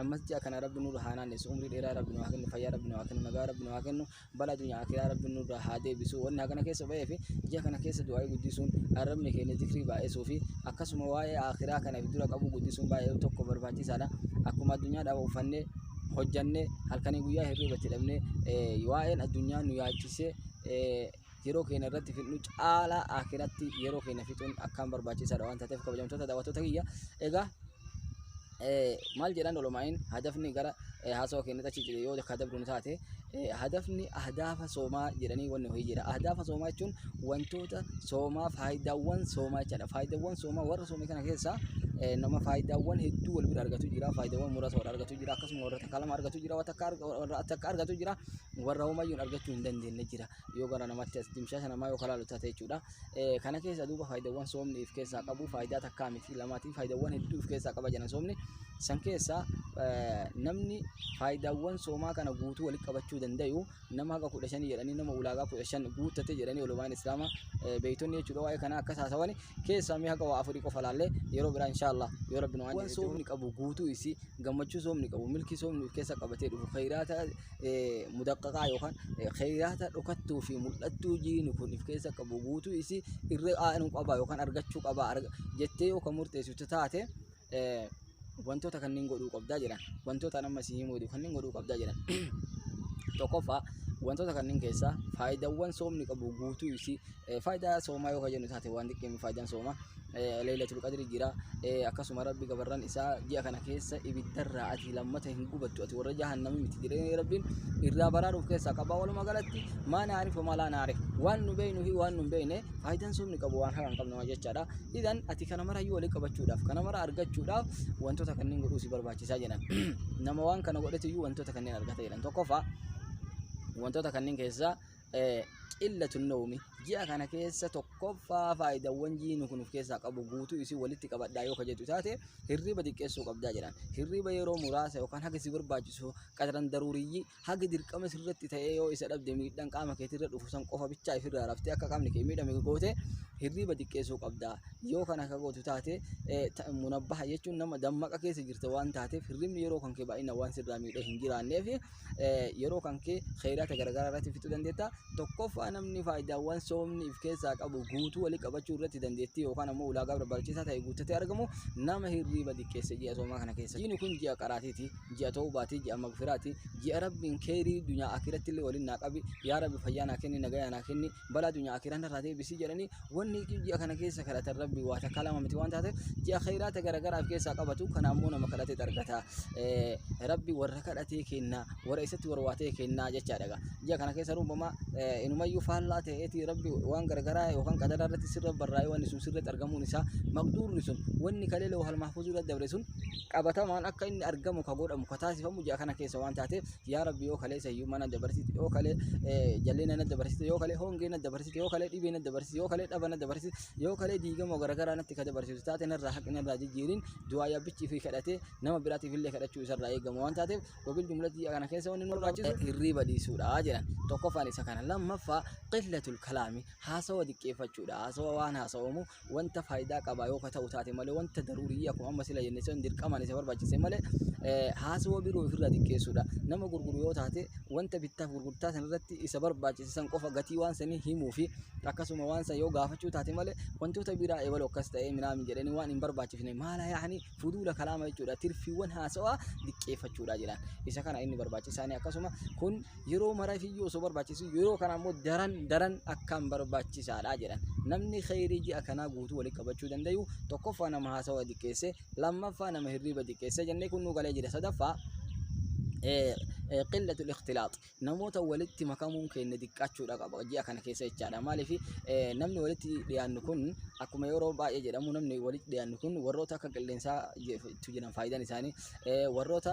ammas ji'a kana rabbi nurra haa naannessu umrii dheeraa rabbi nu haa kennu fayyaa rabbi nu haa kennu nagaa rabbi nu haa kennu bala addunyaa akiraa rabbi nurra haa deebisu wanni hagana keessa ba'ee fi ji'a kana keessa du'aa'ii guddisuun arrabni keenya zikrii baay'isuu fi akkasuma waa'ee akiraa kana fi dura qabuu guddisuun baay'ee tokko barbaachisaadha akkuma addunyaa dhaaba uffannee hojjannee halkanii guyyaa hirriibatti dhabnee waa'een addunyaa nu yaachisee yeroo keenya irratti fixnu caalaa akiratti yeroo keenya fixuun akkaan barbaachisaadha waan taateef kabajamtoota daawwattoota kiyya egaa maal jedhan olomaa'in hadafni gara haasoo keenyatti achi jedhe yoo ka dabruun taate hadafni ahdafa soomaa jedhanii wanni ho'i jira ahdafa soomaa jechuun wantoota soomaa faayidaawwan soomaa jechaadha faayidaawwan soomaa warra soomii kana keessaa nama faayidaawwan hedduu wal bira argatu jira faayidaawwan muraasa wal argatu jira akkasuma warra takka lama argatu jira warra takka argatu jira warra homayyuun argachuu hin dandeenye jira yoo gara namatti as dimshaasha namaa yoo kalaalu taate jechuudha. Kana keessa duuba faayidaawwan soomni if keessaa qabu faayidaa takkaa miti lamaati faayidaawwan hedduu if keessaa qaba jedhan soomni. San keessaa namni faayidaawwan soomaa kana guutuu walitti qabachuu danda'u nama haga kudha shanii jedhanii nama ulaagaa kudha shan guuttate jedhanii olumaan islaamaa beeytonni jechuudha waa'ee kana akkas haasawani keessaa mee haga waa afurii qofa laallee yeroo biraa inshaallah yoo rabbi nu waan soomni qabu guutuu isii gammachuu soomni qabu milkii soomni of keessa qabatee dhufu khayraata mudaqqaqaa yookaan keeyyaata dhokattuu fi mul'attuu jiini kun if keessa qabu guutuu isii irra aanu qaba yookaan argachuu qaba jettee yoo kan murteessitu taate wantoota kanneen godhuu qabdaa jedhan wantoota nama si himuu kanneen godhuu qabdaa jedhan tokkoffaa wantoota kanneen keessaa faayidaawwan soomni qabu guutuu isii Faayidaa soomaa yoo jennu taate waan xiqqeemi faayidaan soomaa leeylatul qadri jira akkasuma rabbi gabarran isaa ji'a kana keessa ibiddarraa ati lammata hin gubattu ati warra jahannami miti jedhee rabbiin irraa baraaruuf keessaa qabaa walumaa galatti maa naarif homaa laa naarif waan nu beeynu fi waan nu hin beeyne faayidaan soomni qabu waan haqa hin qabne jechaadha idan ati kana mara yoo walii qabachuudhaaf kana mara argachuudhaaf wantoota kanneen godhuu si barbaachisaa jedhan nama waan kana godhetu iyyuu wantoota kanneen argata jedhan tokkoffaa wantoota kanneen keessaa qillatu nawmi ji'a kana keessa tokkoffaa faayidawwan jiini kun of keessaa qabu guutuu isii walitti qabadhaa yoo kajetu taate hirriba xiqqeessuu qabdaa jedhan hirriba yeroo muraasa yookaan haga si barbaachisu qadaran daruuriyyi haga dirqama sirratti ta'ee yoo isa dhabde miidhaan qaama keetirra dhufu san qofa bichaa ifirraa raftee akka qaamni kee miidhame goote hirriba xiqqeessuu qabdaa yoo kana akka gootu taate munabbaha jechuun nama dammaqa keessa jirta waan taateef hirribni yeroo kan kee baay'ina waan sirraa miidhee hin jiraanneef yeroo kan kee khayraata garagaraa irratti fixuu dandeetta. Tokkoffaa namni faayidaawwan soomni if keessaa qabu guutuu walii qabachuu irratti dandeettii yookaan ammoo ulaagaa barbaachisaa ta'e guuttatee argamu nama hirriiba diqqeesse ji'a soomaa kana keessa. Jiini kun ji'a qaraatiiti, ji'a toobaati, ji'a magfiraati, ji'a rabbiin keerii dunyaa akiratti illee waliin naa qabi, yaa rabbi fayyaa naa kenni, nagayaa naa kenni, balaa dunyaa akiraan irraa deebisii jedhanii wanni ji'a kana keessa kadhatan rabbi waa takkaa lama miti waan taateef ji'a khayraata garagaraaf keessaa qabatu kana ammoo nama kadhatee argata rabbi warra kadhatee kenna warra isatti warwaatee kenna jechaadha ji'a kana keessa ruubama inumayyuu faallaa ta'eeti rabbi waan garagaraa yookaan qadaraa irratti sirra barraa'ee wanni sun sirratti argamuun isaa maqduurri sun wanni kalee loo halmaafuu sirra dabre sun qabatamaan akka inni argamu ka godhamu ka taasifamu ji'a kana keessa waan taateef yaa rabbi yoo kalee sayyuu mana dabarsite yoo kalee jalleena na dabarsite yoo kalee hongee na dabarsite yoo kalee dhibee na dabarsite yoo kalee dhaba na dabarsite yoo kalee diigamoo garagaraa natti ka dabarsitu taate narraa haqi narraa jijjiirin du'aa yabbichi fi kadhatee nama biraatiif illee kadhachuu isarraa eegamu waan taateef wabil jumlatii kana keessa wanni nu barbaachisu hirriiba dhiisuudha jedhan tokkoffaan isa kana lammaffaa qillatul kalaami haasawa diqqeeffachuudha haasawa waan haasawamu wanta faayidaa qaba yoo ka ta'u taate malee wanta daruuriyyi akkuma amma sila jenne sun dirqamaan isa barbaachise malee eh, haasawaa biroo ofirraa xiqqeessuudha. Nama gurguru yoo taate wanta bittaaf gurgurtaa san irratti isa barbaachise san qofa gatii waan sanii himuu fi akkasuma waan san yoo gaafachuu taate malee wantoota biraa eebalu akkas ta'ee minaamin jedhanii waan hin barbaachifne maala yaa'anii fuduula kalaama jechuudha. Tirfiiwwan haasawaa xiqqeeffachuudha jedhaan. Isa kana inni barbaachisaanii akkasuma kun yeroo maraaf iyyuu osoo barbaachisu yeroo kana immoo daran daran akkaan barbaachisaadha jedhan namni kheyrii ji'a kanaa guutuu walitti qabachuu danda'u tokkoffaa nama haasawa xiqqeesse lammaffaa nama hirriiba xiqqeesse jennee kun nu galee jira sadaffaa qillatu ikhtilaax namoota walitti makamuun keenya xiqqaachuudha qaba ji'a kana keessa jechaadha maaliif namni walitti dhiyaannu kun akkuma yeroo baay'ee jedhamu namni walitti dhiyaannu kun warroota akka qilleensaa jiran faayidaan isaanii warroota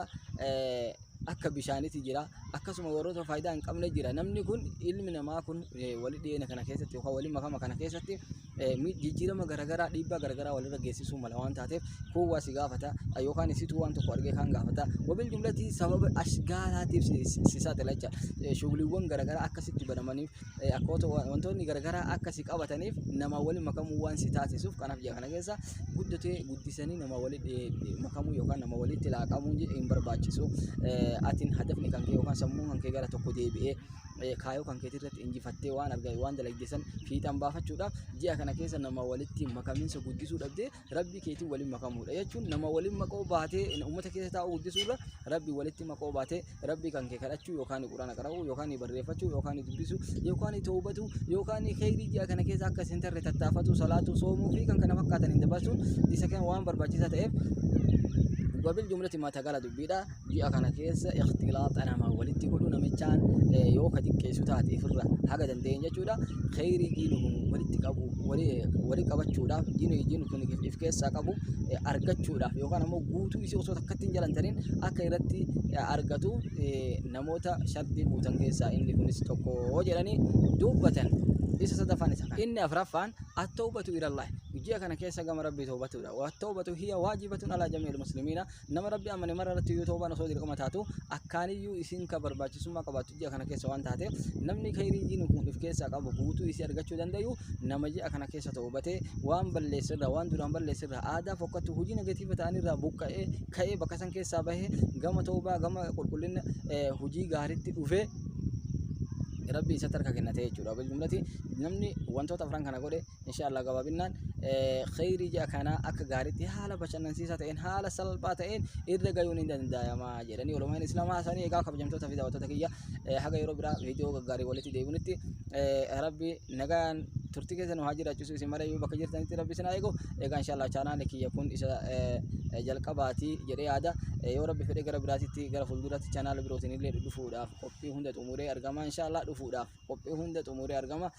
akka bishaaniti jira akkasuma warroota faayidaa hin qabne jira namni kun ilmi namaa kun wali dhiyeenya kana keessatti yookaan wali makama kana keessatti jijjiirama garagaraa dhiibbaa garagaraa walirra geessisuu mala waan taateef kun waa si gaafata yookaan isitu waan tokko argee kaan gaafata wabil jumlatii sababa ashgaalaatiif si saaxila jecha shuguliiwwan garagaraa akkasitti banamaniif eh, akkoota wa- wantoonni garagaraa akka si qabataniif namaa waliin makamuu waan si taasisuuf kanaaf jira kana keessa guddatee guddisanii namaa waliin eh, eh, makamuu yookaan nama walitti laaqamuu je- hin barbaachisu Eh, atiin hadafni kan kee yookaan sammuun kan kee gara tokko deebi'ee eh, kaayoo kan keetii irratti injifattee waan argaa waan dalagdesan fiixaan baafachuudha ji'a kana keessa nama walitti makamiinsa guddisuu dhabdee rabbii keetiin waliin makamuudha jechuun nama waliin makoo baatee uummata keessa taa'uu guddisuurra rabbii walitti makoo baatee rabbii kan kee kadhachuu yookaan quraana qara'uu yookaan barreeffachuu yookaan dubbisuu yookaan toobatuu yookaan kheyrii ji'a kana keessa akka isin tarre tattaafatuu salaatuu soomuu fi kan kana fakkaatan hin dabarsuun isa kan waan barbaachisaa ta'eef wabil jumlati maa tagala dubbiidha ji'a kana keessa ikhtilaaxa namaa walitti godhu namichaan eh, yoo ka xiqqeessu taate ifirra haga dandeenye jechuudha kheyrii diinu kun walitti qabu wali eh, wali qabachuudhaaf diinu diinu kun if- if keessaa qabu eh, argachuudhaaf yookaan ammoo guutuu isii osoo takkatti hin jalantaniin akka irratti eh, argatu eh, namoota shartii guutan keessaa inni kunis tokko jedhanii dubbatan isa sadaffaan isa kana. inni afraffaan attawbatu ilallahi ji'a kana keessa gama rabbii tawbatuudha wattawbatu hiya waajibatun alaa jamiil muslimiina Nama Rabbi amane mara irratti yoo toobaan osoo dirqama taatu akkaaniyyuu isiin ka barbaachisummaa qabaattu ji'a kana keessa waan taateef namni khayrii diin kun if keessaa qabu guutuu isii argachuu dandayu nama ji'a kana keessa toobatee waan balleesse irraa waan duraan balleesse irraa aadaa fokkattu hojii negatiiva ta'an irraa buqqa'ee ka'ee bakka san keessaa bahee gama toobaa gama qulqullina hojii gaariitti dhufee rabbi isatti harka kennatee jechuudha. Namni wantoota afran kana godhe Inshaallah gabaabinnaan kheyrii ji'a kanaa akka gaariitti haala bashannansiisaa ta'een haala salphaa ta'een irra gayuun hin danda'ama jedhanii olomaan islaamaa isaanii egaa kabajamtoota fi daawwattoota kiyya haga yeroo biraa viidiyoo gaggaarii walitti deebinutti rabbi nagaan turtii keessa nu haa jiraachisu isin mara yoo bakka jirtanitti rabbi isin haa eegu egaa inshaallah chaanaali kiyya kun isa jalqabaati jedhee yaada yoo rabbi fedhe gara biraatitti gara fuulduraatti chaanaala birootiin illee dhufuudhaaf qophii hunda xumuree argama inshaallah dhufuudhaaf qophii hunda xumuree argama